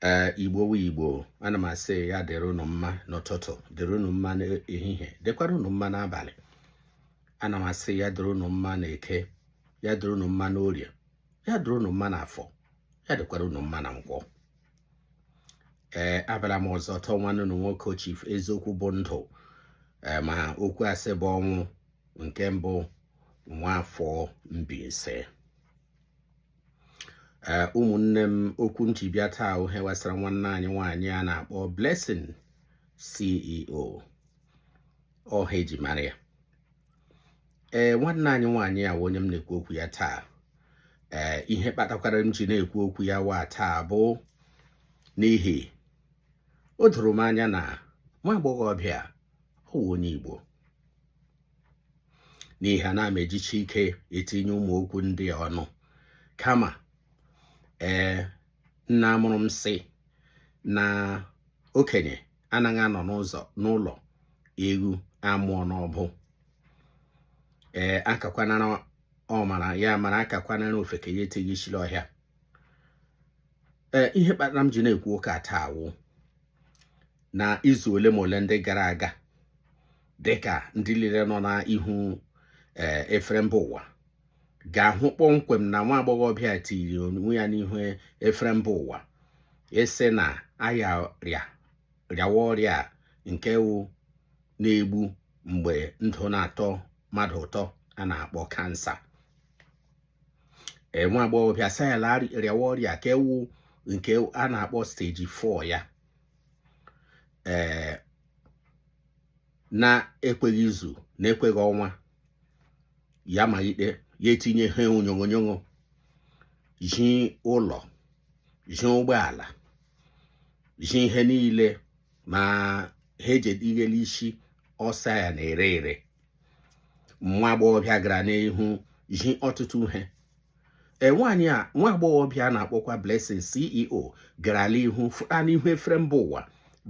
ee igbo wụ igbo ana m asị ya dịrị unu mma n'ụtụtụ dịrị unu mma n'ehihie dịkwara unu mma n'abalị ana m asị ya dịrị unu mma n'eke ya dịrị unu mma n'orie ya dịrị unu mma n'afọ ya dịkwara unu mma na nkwọ ee abịara m ọzọ taa ọ nwanne unu nwoke chief eziokwu bụ ndụ ee ma okwu asị bụ ọnwụ nke mbụ nwa afọ Mbaise ee ụmụnne m okwu m ji bịa taa wụ ihe gbasara nwanne anyị nwaanyị a na-akpọ Blessing CEO ọ aha eji mara ya ee nwanne anyị nwaanyị a wụ onye m na-ekwu okwu ya taa ee ihe kpatakwara m ji na-ekwu okwu ya wa taa bụ n'ihi o doro m anya na nwa agbọghọbịa ọ wụ onye Igbo n'ihi anaghị m ejichi ike etinye ụmụ okwu ndị a ọnụ kama ee nna mụrụ m sị na okenye anaghị anọ n'ụzọ n'ụlọ ewu amụọ n'ọbụ ee akakwanara ọmara ya mara akakwanara ofeke ya etinye isi n'ọhịa ee ihe kpatara m ji na-ekwu ụka a taa wụ na izu ole ma ole ndị gara aga dịka ndị niile nọ n'ihu eh, efere mba ụwa ga-ahụ kpọmkwem na nwa agbọghọbịa tiri onwe ya n'ihu efere mba ụwa ịsị na ya rịawa ọrịa nke wụ na-egbu mgbe ndụ na-atọ mmadụ ụtọ a na-akpọ cancer nwa agbọghọbịa sị ya rịawa ọrịa nke wụ nke a na-akpọ stage 4 ya ee na-ekweghị izu na-ekweghị ọnwa ya malite ya etinye ihe onyonyo ji ụlọ ji ụgbọala ji ihe niile ma ihe eji etinye n'isi ọ sị ya na-ere ere nwa agbọghọbịa gara n'ihu zi ọtụtụ ihe nwaanyị a nwa agbọghọbịa a na-akpọkwa Blessing CEO gara n'ihu fụta n'ihu efere mba ụwa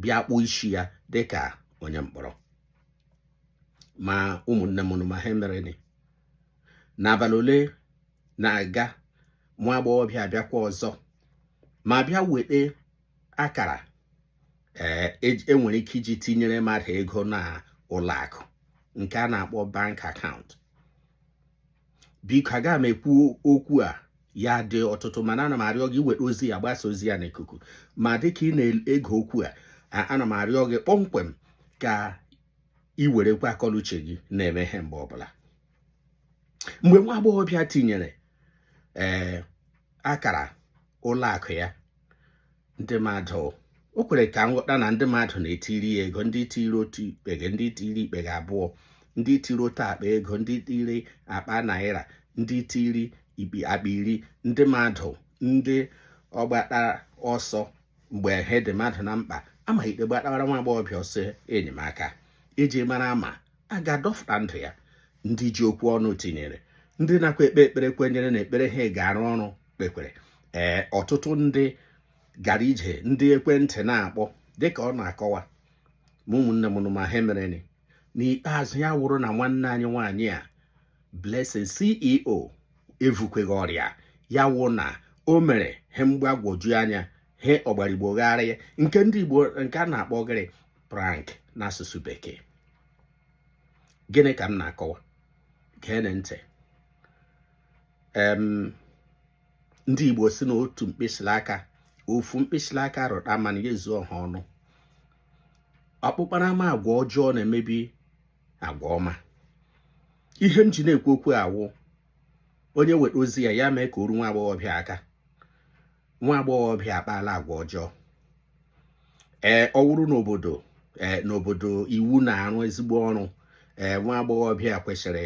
bịa kpụọ isi ya dịka onye mkpọrọ ma ụmụnne m unu ma ihe mere n'abalị ole na-aga nwa agbọghọbịa abịakwa ọzọ ma bịa weta akara eh, e, enwere ike iji tinyere mmadụ ego na ụlọ akụ nke a na-akpọ bank account biko aga m ekwu okwu a ya dị ọtụtụ mana ana m arịọ gị weta ozi a gbasaa ozi a n'ikuku ma dịka ị na-ege okwu a ana m arịọ gị kpọmkwem ka ị werekwa akọnuche gị na-eme ihe mgbe ọbụla mgbe nwa agbọghọbịa tinyere ee eh, akara ụlọ akụ ya ndị mmadụ o kwere ka m ghọta na ndị mmadụ na-etiri ya ego ndị tiri otu ikpeghe ndị tiri ikpeghe abụọ ndị tiri otu akpa ego ndị tiri akpa naira ndị tiri ikpi akpa iri ndị mmadụ ndị ọgbata ọsọ mgbe ihe dị mmadụ na mkpa amaghị ikpe gbatawara nwa agbọghọbịa ọsọ enyemaka iji mara ma a ga-adọfụta ndụ ya ndị ji okwu ọnụ tinyere ndị nakwa ekpe ekpere kwenyere na ekpere ha ga-arụ ọrụ kpekwere ee ọtụtụ ndị gara ije ndị ekwentị na-akpọ dịka ọ na-akọwa ma ụmụnne m ma ihe mereni n'ikpeazụ ya wụrụ na nwanne anyị nwaanyị a Blessing CEO evukwaghị ọrịa ya wụ na o mere ihe mgbagwoju anya ihe ọ gbara Igbo gharịị nke ndị Igbo nke a na-akpọ gịrị prank n'asụsụ bekee gịnị ka m na-akọwa gee ntị ndị Igbo si na otu mkpịsị aka ofu mkpịsị aka rụta mmanụ ya ezuo ọha ọnụ ọkpụkpara ama agwa ọjọọ na-emebi agwa ọma ihe m ji na-ekwu okwu a wụ onye nweta ozi a ya mee ka o ruo nwa agbọghọbịa aka nwa agbọghọbịa akpaala agwa ọjọọ ee ọ wụrụ n'obodo ee n'obodo iwu na-arụ ezigbo ọrụ ee nwa agbọghọbịa kwesịrị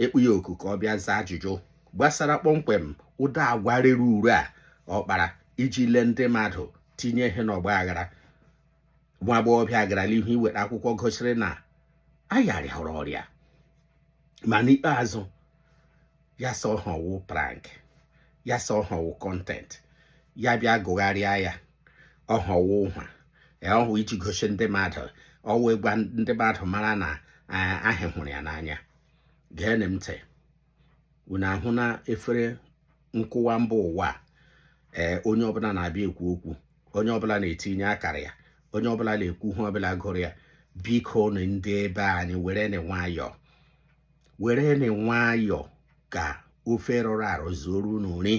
ịkpọ ya oku ka ọ bịa zaa ajụjụ gbasara kpọmkwem ụdị agwa rere ure a ọ kpara iji lee ndị mmadụ tinye ihe n'ọgba aghara nwa agbọghọbịa gara n'ihu iweta akwụkwọ gosiri na ya rịara ọrịa ma n'ikpeazụ ya sị ha na ọ wụ prank ya sị ha na ọ wụ content ya bịa gụgharịa ya ọha ọ wụ ụha ọhụ iji gosi ndị mmadụ ọ wụ ịgwa ndị mmadụ mara ndị hụrụ ya n'anya gee m ntị unu ahụ na efere nkụwa mba ụwa ee onye ọbụla na-abịa ekwu okwu onye ọbụla na-etinye akara ya onye ọbụla na-ekwu ihe ọbụla gụrụ ya bikonu ndị be anyị wereni nwayọọ wereni nwayọọ ka ofe rụrụ arụ zuoru unu nri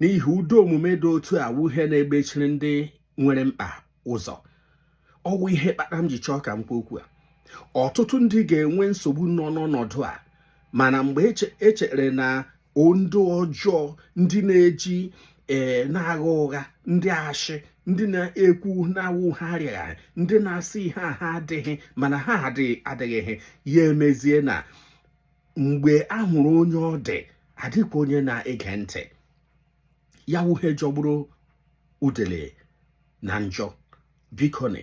n'ihi ụdị omume dị otu a wụ ihe na-egbechiri ndị nwere mkpa ụzọ ọ wụ ihe kpatara m ji chọọ ka m kwuo okwu a ọtụtụ ndị ga-enwe nsogbu nọ n'ọnọdụ a mana mgbe e chere na ndị ọjọọ ndị na-eji ee eh, na-agha ụgha ndị ashị ndị na-ekwu na-awụ ha arịaghị ndị na-asị ihe a ha adịghị mana ha adịghị adịghị ya emezie na mgbe a hụrụ onye ọ dị adịkwa onye na-ege ntị ya wụ ihe jọgburu udele na njọ bikoni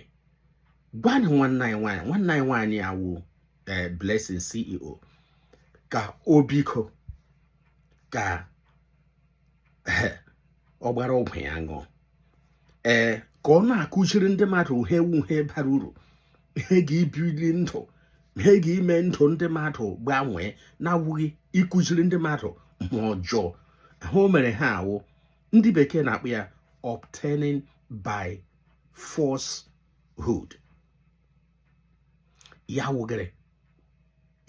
gwanị nwanne anyị nwaanyị nwanne anyị nwaanyị awụ eh, Blessing CEO ka o biko ka eh, ọ gbara ọgwụ ya ṅụọ ee eh, ka ọ na-akụziri ndị mmadụ ihe wụ ihe bara uru ihe ga-ebuli ndụ ihe ga-ime ndụ ndị mmadụ gbanwee na-awụghị ịkụziri ndị mmadụ ma ọjọọ ihe o mere ha awụ ndị bekee na-akpọ ya obtaining by falsehood ya wụ gịrị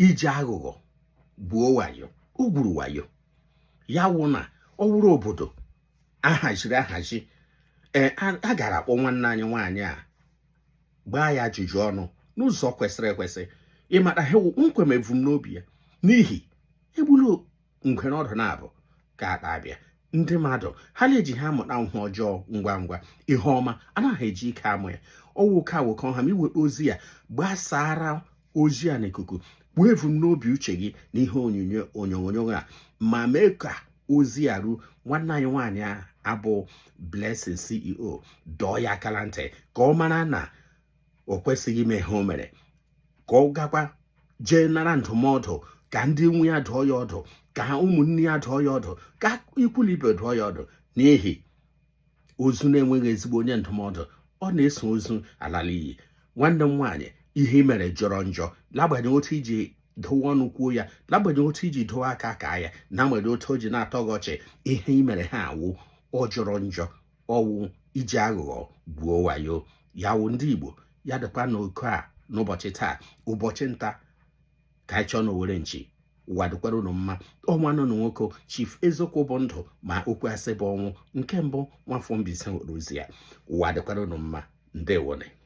iji aghụghọ gbuo wayo o gwuru wayo ya wụ na ọ wụrụ obodo ahaziri ahazi ee eh, a gara akpọ nwanne anyị nwaanyị a gbaa ya ajụjụ ọnụ n'ụzọ kwesịrị ekwesị ịmata ihe nke wụ ebumnobi ya n'ihi egbula ngwere ọdụ naabọ nke atọ abịa ndị mmadụ ha na-eji ha amụta ihe ọjọọ ngwa ngwa ihe ọma anaghị eji ike amụ ya ọ wụ ka awụkọ ha ma i nweta ozi a gbasara ozi a n'ikuku kwuo evu n'obi uche gị na ihe onyonyo a ma mee ka ozi a ruo nwanne anyị nwaanyị a abụ Blessing CEO dọọ ya aka la ntị ka ọ mara na o kwesịghị ime ihe o mere ka ọ gakwa jee nara ndụmọdụ ka ndị nwe ya dụọ ya ọdụ ka ụmụnne ya dụọ ya ọdụ ka ikwu na ibe dụọ ya ọdụ n'ihi ozu na-enweghị ezigbo onye ndụmọdụ ọ na-eso ozu ala l'inyi nwanne m nwaanyị ihe i mere jọrọ njọ l'agbanyeghị otu i ji dowe ọnụ kwuo ya n'agbanyeghị otu i ji dowe aka kaa ya n'agbanyeghị otu o ji na-atọ gị ọchị ihe i mere ha awụ ọ jọrọ njọ ọ wụ iji aghụghọ gwuo wayo ya wụ ndị Igbo ya dịkwa n'oke a n'ụbọchị taa ụbọchị nta ka anyị chụọ n'owere nchi ụwa dịkwara unu mma ọ nwanne unu nwoke chief eziokwu bụ ndụ ma okwu asị bụ ọnwụ nke mbụ nwafọ Mbaise hụrụ ozi a ụwa dịkwara unu mma ndewonụ